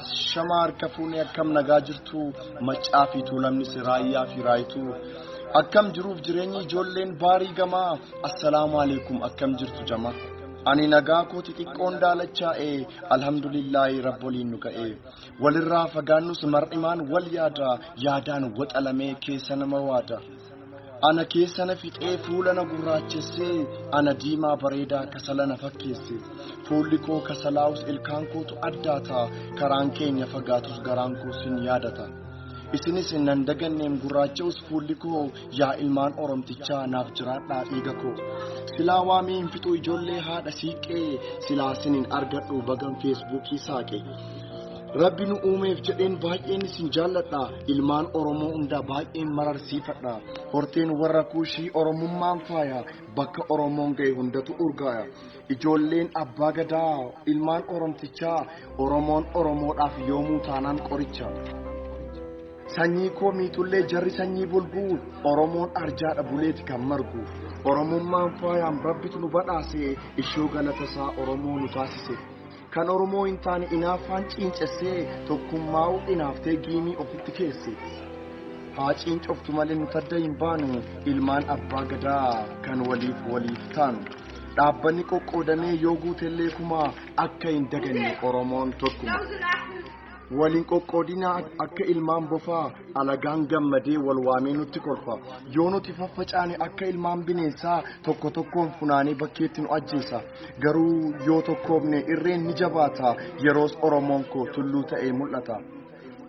Ashamaa harka fuunee akkam nagaa jirtu maccaa fi tuulamnis raayyaa fi raayituu akkam jiruuf jireenyi ijoolleen baarii gamaa assalaamu alaikum akkam jirtu jamaa ani nagaa koo xixiqqoon daalachaa'e alhamdulillaahi rabboliin nu ga'e walirraa fagaannus mar'imaan wal yaada yaadaan waxalamee keessa nama waada. Ana keessa na fixee fuula na gurraachessee ana diimaa bareedaa kasala na fakkeesse fuulli koo kasalaa'us ilkaan kootu addaata karaan keenya fagaatus garaan koo sin yaadata isinis nan daganneem gurraacha'us fuulli koo yaa ilmaan oromtichaa naaf jiraadhaa dhiiga koo silaa waamee hin fixuu ijoollee haadha siiqqee silaa sin hin argadhu bagan feesbuukii saaqe. Rabbi nu uumeef jedheen baay'een isin jaalladha. Ilmaan Oromoo hundaa baay'een mararsiifadha. Horteen warra kuushii Oromummaan faaya. Bakka Oromoon ga'e hundatu urgaaya. Ijoolleen abbaa gadaa ilmaan Oromtichaa Oromoon Oromoodhaaf yoomuu taanaan qoricha. Sanyii koo miixullee jarri sanyii bulguu Oromoon arjaadha buleeti kan margu. Oromummaan faayaan rabbitu nu badhaase ishoo galatasaa Oromoo nu taasise. Kan Oromoo hin taane inaaffaan ciincessee tokkummaa'uu inaaftee giimii ofitti keesse. Haa ciincoftu malee nuti adda hin baanu ilmaan abbaa gadaa kan waliif waliif taanu. Dhaabbanni qoqqoodamee yoo guutellee kumaa akka hin daganne Oromoon tokkuma. Wal hin qoqqoodinaa akka ilmaan bofaa alagaan gammadee wal waamee nutti kolfa. Yoo nuti faffacaane akka ilmaan bineensaa tokko tokkoon funaanee bakkeetti nu ajjeesa. Garuu yoo tokkoomne irreen ni jabaata yeroos Oromoon koo tulluu ta'ee mul'ata.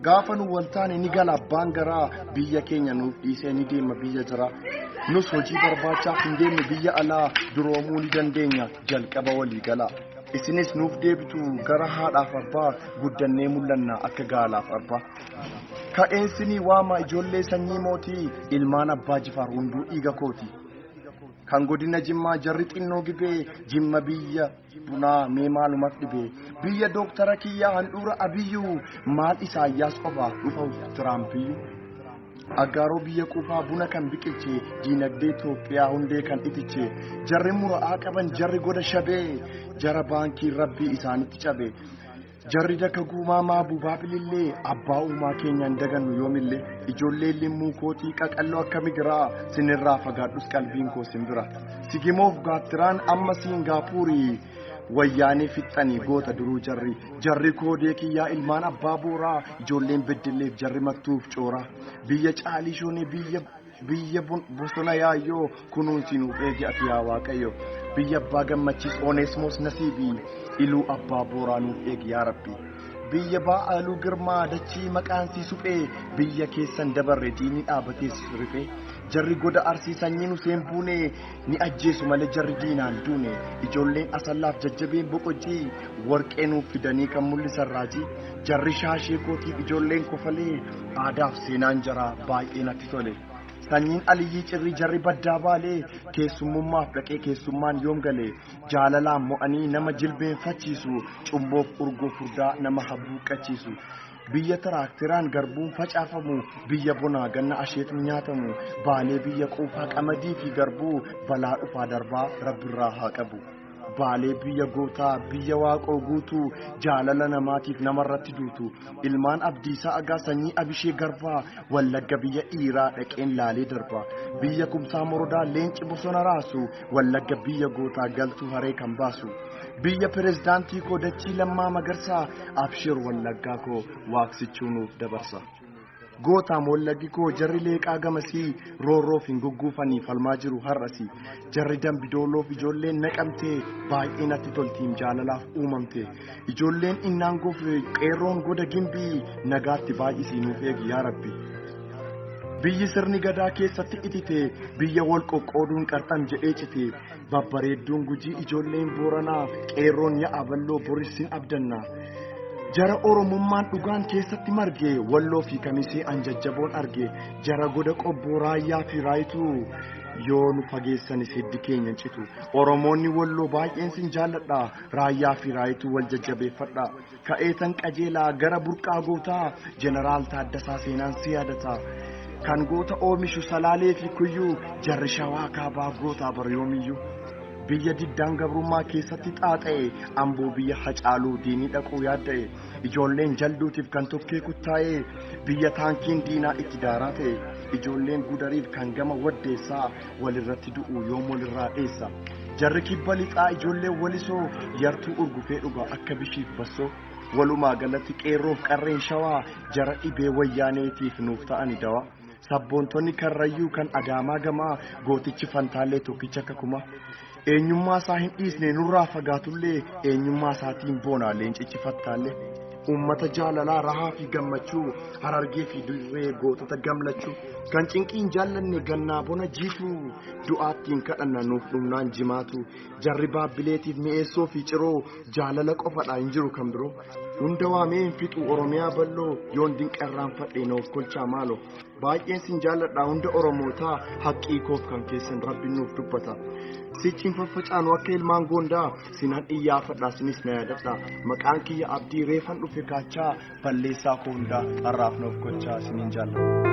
Gaafa nu wal taane ni gala abbaan garaa biyya keenya nuuf dhiisee ni deema biyya jira. Nus hojii barbaachaaf hin deemnu biyya alaa duroomuu ni dandeenya jalqaba walii gala. Isinis nuuf deebitu gara haadhaaf abbaa guddannee mul'anna akka gaalaaf abbaa. Ka'een sinii waama ijoollee sanyii mootii ilmaan abbaa jifaar hunduu dhiiga kooti. Kan godina jimmaa jarri xinnoo gibee jimma biyya bunaa mee maalumaf dhibee biyya dooktara kiyyaa handhuura abiyyuu maal isaayyaas qofa dhufa tiraampiyyuu. Aggaaroo biyya quufaa buna kan biqilche diinagdee Itoophiyaa hundee kan itiche jarri mura'aa qaban jarri goda shabee jara baankii rabbii isaanitti cabe jarri daka guumaa maabuubaa bilillee abbaa uumaa keenyaan dagannu yoomillee ijoollee limmuu kootii qaqalloo akka migiraa sinirraa fagaadhus qalbiin koo simbira sigimoof gaattiraan amma siingaapuurii Wayyaanee fixxanii goota duruu jarri jarri koodee kiyyaa ilmaan abbaa booraa ijoolleen beddelleef jarri mattuuf cooraa biyya caalii shoonee biyya biyya bun- bosona yaayyoo kunuunsi nuuf eegi ati yaa waaqayyo biyya abbaa gammachiis oneesmoos nasiibii iluu abbaa booraa nuuf eegi yaa rabbi biyya baa'aaluu girmaa dachii maqaan sii suphee biyya keessan dabarre diinni dhaabatees rifee jarri goda arsii sanyiin useen buunee Ni ajjeesu malee jarri diinaan duune ijoolleen Asallaaf jajjabeen Boqojjii Warqee nuuf fidanii kan mul'isan raajii Jarri shaashee kootiif ijoolleen Kofalee Aadaaf seenaan jaraa baay'ee natti tole Sanyiin Aliyyii Cirrii jarri baddaa Baalee Keessummummaaf dhaqee keessummaan yoom gale Jaalalaan mo'anii nama jilbeenfachiisu Cumboof urgoo furdaa nama habuuqqachiisu Biyya tiraakteraan garbuun facaafamu, biyya bonaa ganna asheetni nyaatamu, Baalee biyya quufaa qamadii fi garbuu, balaa dhufaa darbaa Rabbirraa haa qabu. Baalee biyya gootaa, biyya waaqoo guutuu, jaalala namaatiif namarratti duutu. Ilmaan Abdiisaa Agaa sanyii Abishee Garbaa, Wallagga biyya dhiiraa dhaqeen laalee darbaa. Biyya Kumsaa Morodaa leenci bosona raasu, Wallagga biyya gootaa galtuu haree kan baasu biyya pirezidaantii koo dachii lammaa magarsaa abshir wallaggaa koo waaqsichuu nuuf dabarsa. Gootaam wallaggi koo jarri leeqaa gamasii roorroof hin gugguufanii falmaa jiru har'asi jarri dambidooloof ijoolleen naqamtee baay'ee natti toltiin jaalalaaf uumamte Ijoolleen innaan gofe qeerroon goda gimbii nagaatti baay'isii nuuf eegi yaa rabbi. Biyyi sirni gadaa keessatti itite biyya wal qoqqooduun qarxam jedhee cite babbareedduun gujii ijoolleen booranaa qeerroon ya'a balloo borissin abdanna. Jara Oromummaan dhugaan keessatti marge walloo fi kamisee an jajjaboon arge jara goda qobboo raayyaa fi raayituu yoo nu fageessanis hiddi keenya hin citu. Oromoonni walloo baay'een sin jaalladha. Raayyaa fi Raayituu wal jajjabeeffadha. Ka'eetan qajeelaa gara burqaa gootaa Jeneraal Taaddasaa Seenaan si yaadata. Kan goota oomishu Salaalee fi Kuyyuu jarri Shawaa Kaabaa gootaa bara yoomiyyuu. Biyya diddaan gabrummaa keessatti xaaxa'e amboo biyya hacaaluu diinii dhaquu yaadda'e ijoolleen jalduutiif kan tokkee kuttaa'e biyya taankiin diinaa itti daaraa ta'e ijoolleen gudariif kan gama waddeessaa walirratti du'u yoom walirraa dheessa jarri kibba lixaa ijoollee walisoo yartuu urgufee dhuga akka bishiif bassoo walumaa galatti qeerroof qarreen shawaa jara dhibee wayyaaneetiif nuuf ta'ani dawa sabboontonni karrayyuu kan adaamaa gamaa gootichi fantaallee tokkicha akka kumaa Eenyummaa isaa hin dhiisne nurraa fagaatullee eenyummaa isaatiin boona leencichi fattaalle. Uummata jaalalaa rahaa fi gammachuu harargee fi dirree gootota gamlachuu kan cinqii hin jaallanne gannaa bona jiituu du'aattiin kadhanna nuuf dhumnaan jimaatu jarri baabbileetiif mi'eessoo fi ciroo jaalala qofadha hin jiru kan biroo hunda waamee hin fixu oromiyaa bal'oo yoon dinqarraanfadhe noof kolchaa maalo baay'een sin jaalladha hunda oromootaa haqqii koof kan keessan rabbiin nuuf dubbata sichiin faffacaanu akka ilmaan goondaa sinan iyyaafadha sinis na yaadadha maqaan kiyya abdii reefan dhufe kaachaa balleessaa koo hundaa har'aaf nuuf gochaa sinin jaalladha.